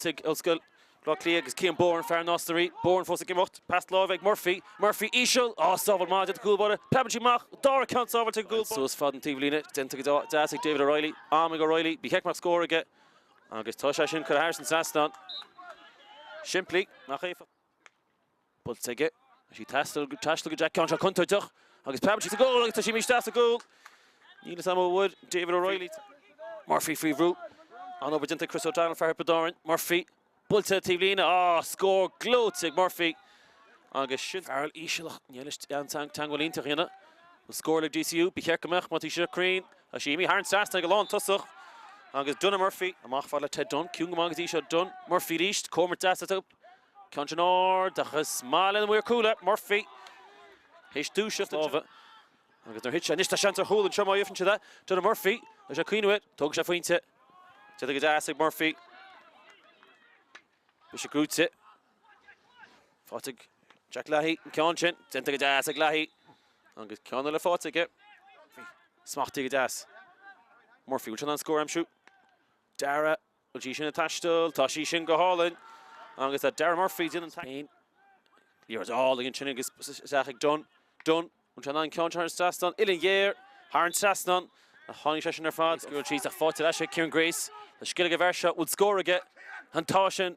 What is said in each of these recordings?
tigh Ollscoil Bhleá Cliath agus Cian Byrne, fear na Ostairí. Byrne fós ag imeacht. Pas láimhe ag Murphy. Murphy íseal. Á, sábháil maith de do chúlbáire. Preabann sí amach. An dara ceann sábháilte ag an gcúlbáire. Suas fad an taobhlíne. Déanta go deas ag David O'Reilly. Am ag O'Reilly. Ba cheart go mbeadh scór aige agus tá sé sin curtha thairis an trasnán. Simplí, ach éifeachtach. buailte aige. Tá sí ag taisteal ag taisteal isteach ceann seo contúirteach agus preabann sí sa gcúl agus tá sí imithe isteach sa gcúl. Níl fhios a'm a bhfuair David O'Reilly Murphy faoi bhrú. An-obair déanta ag Chris O'Donnell, fear Thiobraid Árann. Murphy buailte taobh líne. Á! Scór gleoite ag Murphy. Agus sin Farrell íseal ach níl leis an teangmháil iontach a dhéanamh. An scór le DCU, ba cheart go mbeadh má tá sí seo cruinn. Tá sí imithe thar an trasnán ag an lántosach. Agus Donagh Murphy amach fad le Ted Dunne. Ciúin go maith go dtí seo Dunne. Murphy arís, comhimirt deas eatarthu. Ceann sin ard agus is maith leis an maor cúil é, Murphy, théis dúiseacht láimhe agus nuair a thit sé anois tá seans ar chúl anseo má fhiafraíonn siad é. Donagh Murphy, beidh sé ag cuimhneamh air, tógfaidh sé pointe. Déanta go deas ag Murphy. Bhí sé gnóite. Faighte ag Jack Leahy an ceann sin, déanta go deas ag Leahy agus ceann eile faighte aige. Smachtaithe go deas. Murphy, bhfuil sé in ann scór a aimsiú? Dara Bhfuil sí sin ag taisteal? Tá sí sin go hálainn agus tá Darragh Murphy, Dylan Spain, Liathróid álainn ansin agus isteach ag Dunne. Dunne, bhfuil sé in ann an ceann thar an trasnán. Uillinn ghéar thar an trasnán a tháinig sé sin ar fad. Scaoilte síos ach faighte ar ais ag Kieran Grace. Tá scil ag an bhfear seo, bhfuil scór aige? Á tá sin?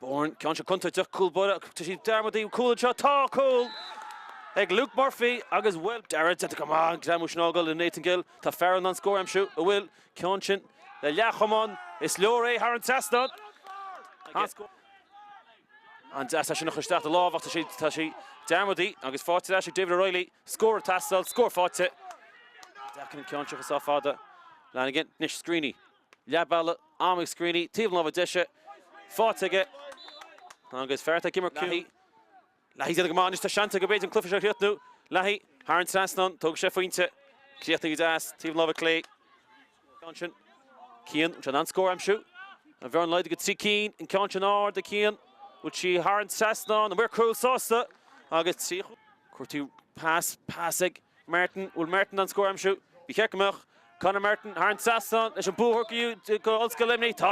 Byrne, ceann seo contúirteach cúlbáire tá sí ag Darmody an cúl anseo, tá cúl ag Luke Murphy agus bhfuil dearadh déanta go maith ag Gleann Mhuise Nagall i Nathan Gill, tá Farrell in ann scór a aimsiú a bhfuil ceann sin le leathchamán, is leor é thar an trasnán agus an deas leis anocht isteach do lámh ach tá sí ag Darmody agus faighte ar ais ag David O'Reilly, scór ag teastáil, scór faighte. Deacair an ceann seo chun sá fada, Lanigan, anois Screeney. leathbhealaigh, am ag Screeney, taobh na láimhe deise faighte aige agus fear atá ag imirt ciúin. Leahy ag déanamh go maith anois, tá seans aige, b'fhéidir, an cluiche seo a chríochnú. Leahy thar an trasnán, tógfaidh sé a phointe. Críochnaithe go deas, taobh na láimhe clé. Ceann sin. Cian, bhfuil sé in ann scór a aimsiú? An bhearna laghdaithe go trí cinn, an ceann sin ard ag Cian, bhfuil sí thar an trasnán, an maor cúil sásta agus trí chúl. Cuirtear pas, pas ag. Martin, bhfuil Martin in ann scór a aimsiú. Ba cheart go mbeadh Conor Martin thar an trasnán leis an mbua a shocrú go Ollscoil Luimnigh. Tá.